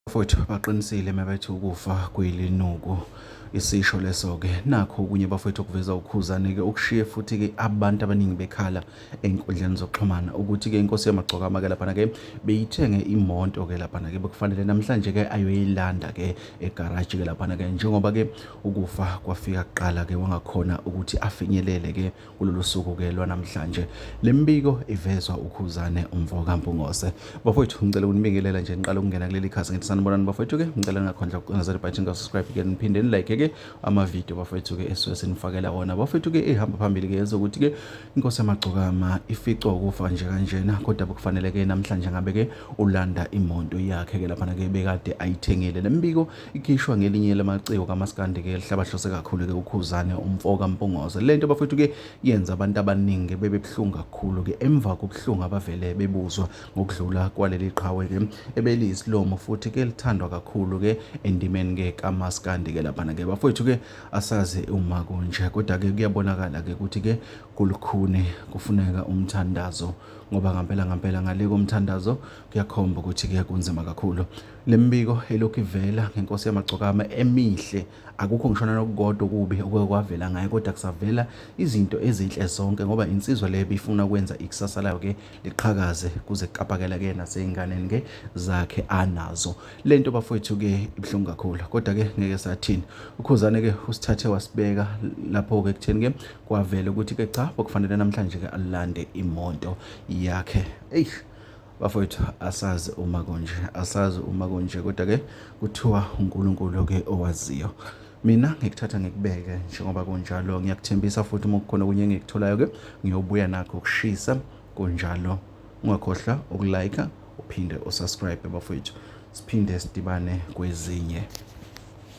futhi baqinisile mabethi ukufa kuyilinuku isisho leso-ke nakho okunye bafowethu okuveza ukhuzane-ke okushiye futhi-ke abantu abaningi bekhala ey'nkundleni zokuxhumana ukuthi-ke inkosi yamagcokama-ke laphana-ke beyithenge imoto-ke laphana-ke bekufanele namhlanje-ke ayoyilanda-ke egaraji-ke laphana-ke njengoba-ke ukufa kwafika kuqala-ke wangakhona ukuthi afinyelele-ke kulolu suku ke lwanamhlanje le mbiko ivezwa ukhuzane umfo kampungose bafowethu ngicela ukunibingelela nje niqala ukungena kuleli khasi ngithi sanibonani bafowethu ke ngicela ningakhondla ukucinezela ibhathini ka-subscribe ke niphinde nilike ke amavidiyo bafowethu ke esuke sinifakela wona bafowethu ke ihamba phambili ke yenza ukuthi ke inkosi yamagcokama ificwa ukufa nje kanjena kodwa bekufanele ke namhlanje ngabe ke ulanda imoto yakhe ke laphana ke bekade ayithengile le mbiko ikhishwa ngelinye lamaciko kamaskandi ke lihlabahlose kakhulu ke ukhuzane umfo kampungose le nto bafethu ke yenza abantu abaningi bebe buhlungu kakhulu ke emva kobuhlungu abavele bebuzwa ngokudlula kwaleli qhawe ke ebeliyisilomo futhi ke lithandwa kakhulu ke endimeni ke kamaskandi ke laphana ke bafethu ke asazi uma kunje kodwa ke kuyabonakala ke ukuthi ke kulukhuni kufuneka umthandazo ngoba ngampela ngampela ngale komthandazo kuyakhomba ukuthi ke kunzima kakhulu Le mibiko elokhu ivela ngenkosi yamagcokama emihle akukho ngishona nokukodwa okubi okuke kwavela ngayo kodwa kusavela izinto ezinhle zonke ngoba insizwa le bifuna ukwenza ikusasa layo ke liqhakaze kuze kuqapakela ke naseyinganeni ke zakhe anazo lento bafowethu ke ibuhlungu kakhulu kodwa ke ngeke sathini ukhuzane ke usithathe wasibeka lapho ke kutheni ke kwavela ukuthi ke cha bokufanele namhlanje ke alande imoto yakhe eish bafowethu asazi uma kunje asazi uma kunje kodwa ke kuthiwa uNkulunkulu ke owaziyo mina ngikuthatha ngikubeke njengoba kunjalo ngiyakuthembisa futhi uma kukhona okunye engikutholayo ke ngiyobuya nakho ukushisa kunjalo ungakhohlwa ukulike uphinde usubscribe bafowethu siphinde sidibane kwezinye